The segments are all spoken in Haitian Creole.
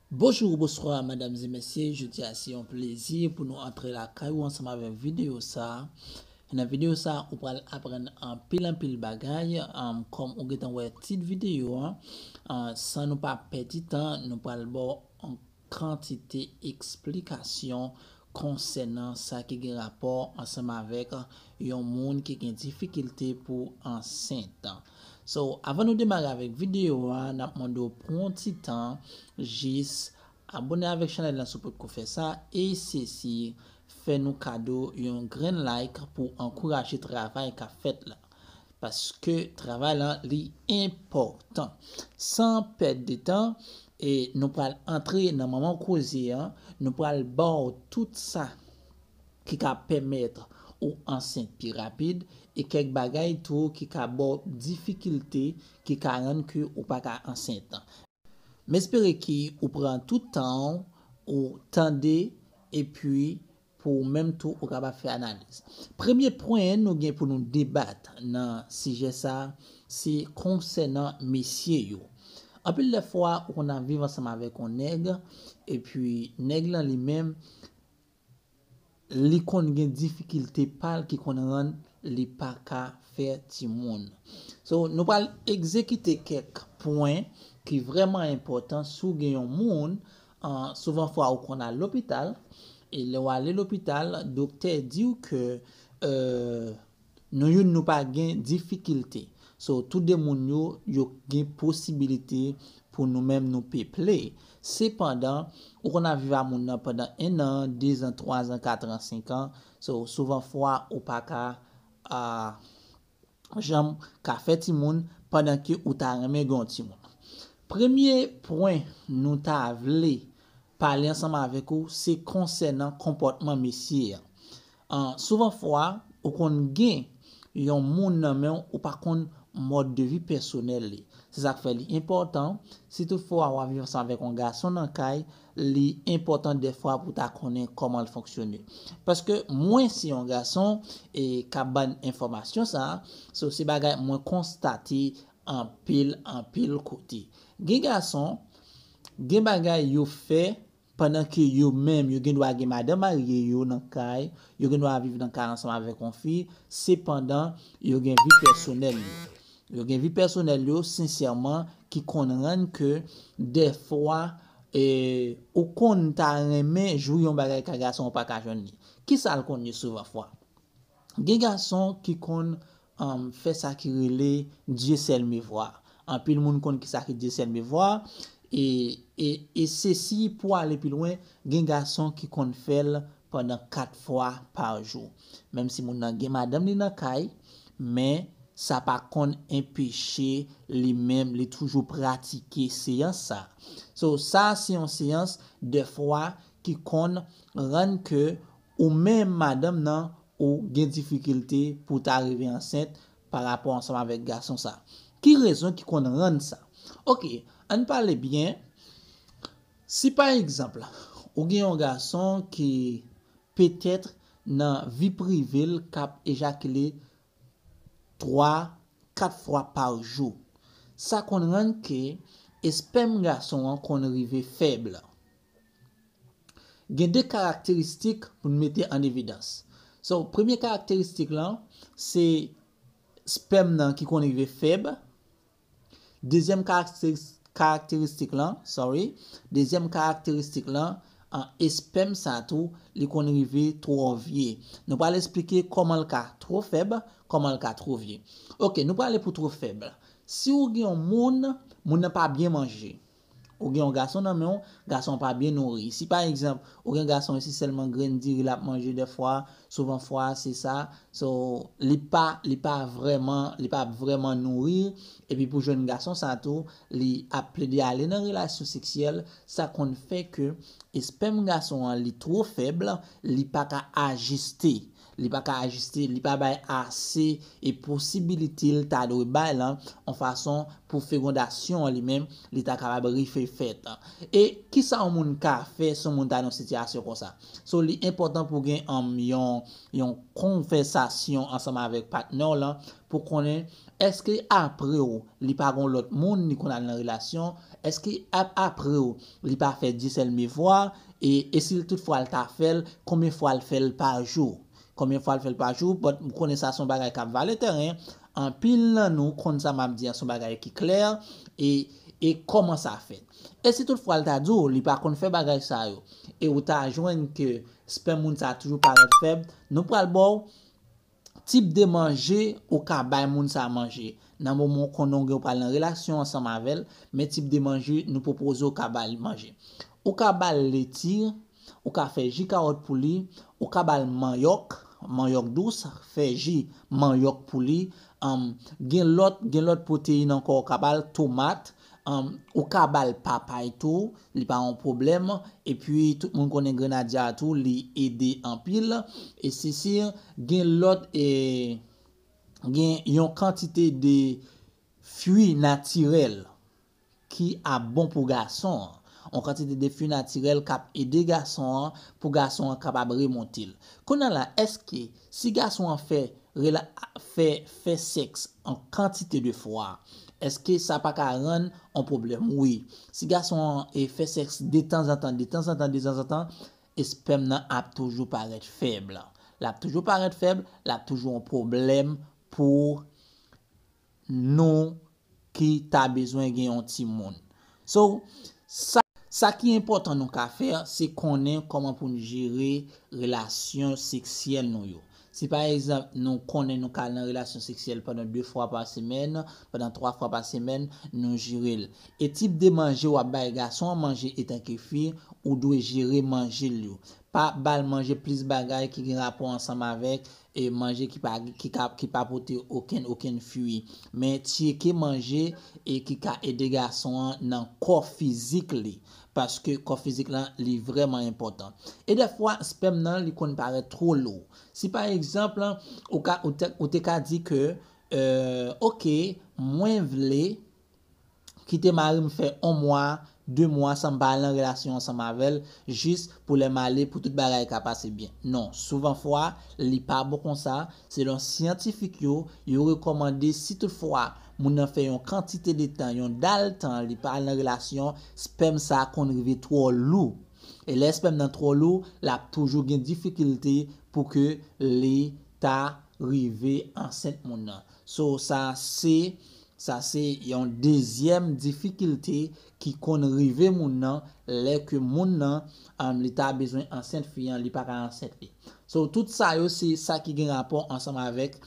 Bonjour ou bonswa madam e mesye jodia se yon plezi pou nou antre lakay ou ansanm avèk video sa e nan video sa ou pral aprann anpil anpil bagay kòm ou gentan wè tit video an san nou pa pèdi tan nou pral baw yon kantite eksplikasyon konsènan sa ki gen rapò ansanm avèk yon moun ki gen difikilte pou ansent. So avan nou demare avèk video a nap mande w pran yon ti tan jis abone avèk chanèl lan si w potko fè sa e sesi fè nou kado yon grenn like pou ankouraje travay kap fèt la paske travay lan li enpòtan san pèd de tan e nou pral antre nan manman koze an nou pral ba w tout sa ki ka pèmèt ou ansent pi rapid e kèk bagay tou ki ka ba w difikilte ki ka rann ke ou pa ka ansent. M espere ke ou pran tout tan w ou tande epi pou ou menm tou ou kapab fè analiz. Premye pwen nou gen pou nou debat nan sijè sa a se konsènan mesye yo. Anpil lè fwa ou konn ap viv ansanm avèk yon nèg epi nèg lan li menm, Li konn gen difikilte pal ki konn rann li pa ka fè timoun. So nou pral egzekite kèk pwen ki vrèman enpòtan si w gen yon moun souvan fwa ou konn al lopital e lè w ale lopital doktè di w ke Nou youn nou pa gen difikilte so tou de moun yo yo k gen posibilite pou nou menm nou peple sepandan ou konn ap viv a moun nan pandan 1 an 2 zan 3 zan 4 an 5 an so souvan fwa ou pa ka aah janm ka fè timoun pandan ke ou ta renmen gen yon timoun premye pwen nou ta vle pale ansanm avèk ou se konsènan konpòtman mesye an An souvan fwa ou konn gen Yon moun nan menw ou pa konn mòd de vi pèsonèl li se sak fè li enpòtan si tout fwa wap viv ansanm avèk yon gason nan kay li enpòtan dèfwa pou ta konnen kòmanl fonksyone paske mwen se yon gason e kap bann enfòmasyon sa so se bagay mwen konstate anpil anpil kote gen gason gen bagay yo fè Pandan ke yo menm yo gen dwa gen madan marye yo nan kay, yo gen dwa viv nan kay ansanm avèk yon fi, sepandan yo gen vi pèsonèl yo. Yo gen vi pèsonèl yo sensèman ki konn rann ke dèfwa ou konn ta renmen jwi yon bagay ka gason ou pa ka jwenn li. Kisa l konn ye souvan fwa? Gen gason ki konn fè sa ki rele Dieu seul me voit. Anpil moun konn kisa ki Dieu seul me voit e sesi pou ale pi lwen gen gason ki konn fèl pandan 4 fwa pa jou. Menm si moun nan gen madanm li nan kay men sa pa konn enpeche li menm li toujou pratike seyans sa. So sa se yon seyans dè fwa ki konn rann ke Ou menm madanm nan ou gen difikilte pou w ta rive ansent pa rapò ansanm avèk gason sa. Ki rezon ki konn rann sa? Ok, an n pale byen, si pa egzanp ou gen yon gason ki petèt nan vi prive l k ap ejakile 3, 4 fwa pa jou, sa konn rann ke espèm gason an konn rive fèb. Gen de karakteristik pou n mete an evidans. So, premye karakteristik lan, se spèm nan ki konn rive fèb. Dezyèm karakteristik lan, sorry, dezyèm karakteristik lan, espèm sa tou, li konn rive twò vye. Nou pral esplike kòman l ka twò fèb, kòman l ka twò vye. Ok, nou prale pou twò fèb la. Si ou gen yon moun, moun nan pa byen manje. Ou gen yon gason nan menw, gason an pa byen nouri. Si pa egzanp, ou gen gason e se sèlman grenn diri lap manje dèfwa, souvan fwa a se sa, so li pa li pa vrèman li pa ap vrèman nouri, epi pou jèn gason sa tou li ap plede ale nan relasyon seksyèl, sa konn fè ke espèm gason an li two fèb, li pa ka ajiste. Li pa ka ajiste, li pa bay ase e posibilite l ta dwe bay lan on fason pou fegondasyon an li menm li ta kapab rife fèt. E ki sa on moun ka fè si on moun ta nan on sitiyasyon konsa? So li enpòtan pou gen an yon yon konvèsasyon ansanm avèk patnè w lan pou konnen èske apre w li pa gen on lòt moun li konn al nan relasyon, èske ap apre w li pa fè disèlmevwa, E esil tout fwa l ta fèl konbyen fwa l fèl pa jou konbyen fwa l fèl pa jou but m konnen sa son bagay kap vale tèren anpil nan nou konn sa map di an son bagay ki klè e e kòman sa fèt esi tout fwa l ta di w li pa konn fè bagay sa yo e ou ta jwenn ke spèm moun sa toujou parèt fèb nou pral baw tip de manje ou ka bay moun sa manje, nan moman ou konnen ou gen ou pral nan relasyon ansanm avè l, men tip de manje nou pwopoze ou ka ba li manje. Ou ka ba l leti, ou ka fè ji kawòt pou li, ou ka ba l manyòk, manyòk dous, fè ji manyòk pou li, gen lòt gen lòt pwoteyin ankò ou ka ba l, tomat, Ou ka bal papay tou li pa yon pwoblèm epi tout moun konnen grenadya a tou li ede anpil e se sir gen lòt gen yon kantite de fui natirèl ki ap bon pou gason an yon kantite de fui natirèl kap ede gason an pou gason an kapab remonte l kounye a la èske Si gason an fè rela fè fè sèks an kantite de fwa eske sa pa ka rann on pwoblèm wi si gason an e fè sèks detanzantan detanzantan dezanzantan espèm nan ap toujou parèt fèb lap toujou parèt fèb lap toujou on pwoblèm pou nou ki ta bezwen gen yon timoun. So, sa. Sa ki enpòtan nou ka fè, se konnen kòman pou n jere relasyon seksyèl nou yo. Si pa egzanp, nou konnen nou ka al nan relasyon seksyèl pandan 2 fwa pa semèn, pandan 3 fwa pa semèn, nou jere l. E tip de manje w ap bay gason an manje etanke fi, ou dwe jere manje l yo. Pa ba l manje plis bagay ki gen rapò ansanm avèk E manje ki pa ki ka ki pa pote okenn okenn fui. Men tyeke manje e ki ka ede gason an nan kò fizik li. Paske kò fizik lan li vrèman enpòtan. E dèfwa spèm nan li konn parèt two lou. Si pa egzanp ou ka ou te ka di ke euh ok mwen vle. kite mari m fè on mwa, de mwa san m pa al nan relasyon ansanm avè l jis pou lè m ale pou tout bagay ka pase byen. Non, souvan fwa li pa bon konsa, selon syantifik yo, yo rekòmande si tout fwa moun nan fè yon kantite de tan, yon dal tan li pa al nan relasyon, spèm sa konn rive twò lou. E lè spèm nan twò lou, l ap toujou gen difikilte pou ke li ta rive ansent moun nan. So sa se Sa se yon dezyèm difikilte ki konn rive moun nan lè ke moun nan li ta bezwen ansent fi an li pa ka ansent li. So tout sa yo se sa ki gen rapò ansanm avèk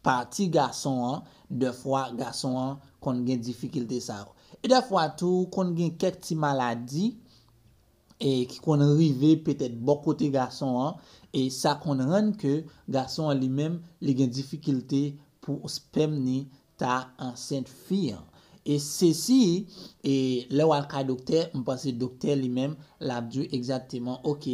pati gason an dèfwa gason an konn gen difikilte sa yo. E dèfwa tou konn gen kèk ti maladi e ki konn rive petèt bò kote gason an e sa konn rann ke gason an li menm li gen difikilte pou spèm ni ta ansent fi an e sesi e lè wal kay doktè m panse doktè li menm lap diw egzakteman ok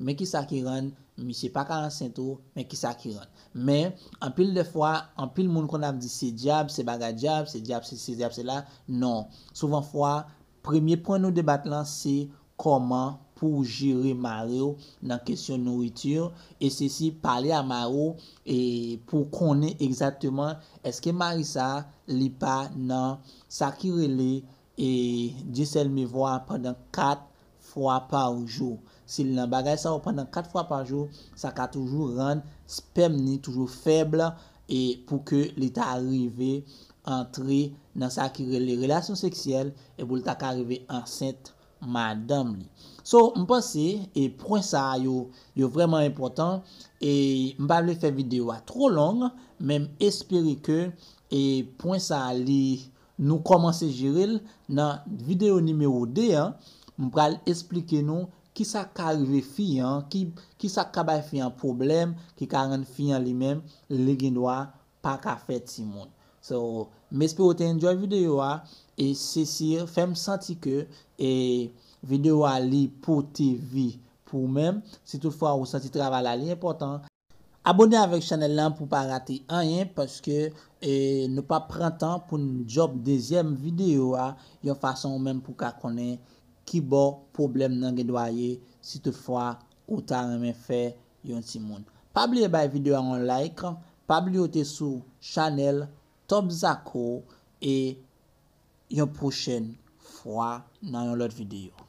men kisa ki rann misye paka ansent ou men kisa ki rann men anpil de fwa anpil moun konn ap di se dyab se bagay dyab se dyab sesi se dyab sela non souvan fwa Premye pwen nou debat lan se kòman pouw jere mariw nan kesyon nourriture e sesi pale a mariw e pouw konnen egzakteman eske mari sa li pa nan sa ki rele e Dieu seul me voit pandan 4 fwa par jou si li nan bagay sa yo pandan 4 fwa par jou sa ka toujou rann spèm ni toujou fèb e pou ke li ta rive antre nan sa ki rele relasyon seksyèl e pou li ta ka rive ansent madanm li. So, m panse e pwen sa yo, yo vrèman enpòtan e m pa vle fè videyo a twò long men m espere ke e pwen sa li nou kòmanse jere l nan videyo nimewo 2 an, m pral esplike nou Kisa k ka rive fi an, kisa k ka bay fi an pwoblèm ki ka rann fi an li menm li gendwa pa ka fè timoun. So, m espere w te enjoy videyo a e sesi fè m santi ke videyo a li pote vi pou ou menm. Si tout fwa ou santi travay la li enpòtan, Abone avèk chanèl lan pou pa rate anyen paske nou pap pran tan poun djòb dezyèm video a yon fason ou menm pou ka konnen kibò pwoblèm nan gen dwa ye si tout fwa ou ta renmen fè yon timoun pa bliye bay video a yon like pa bliye ou te sou chanèl Top Zako e yon pwochèn fwa nan yon lòt video.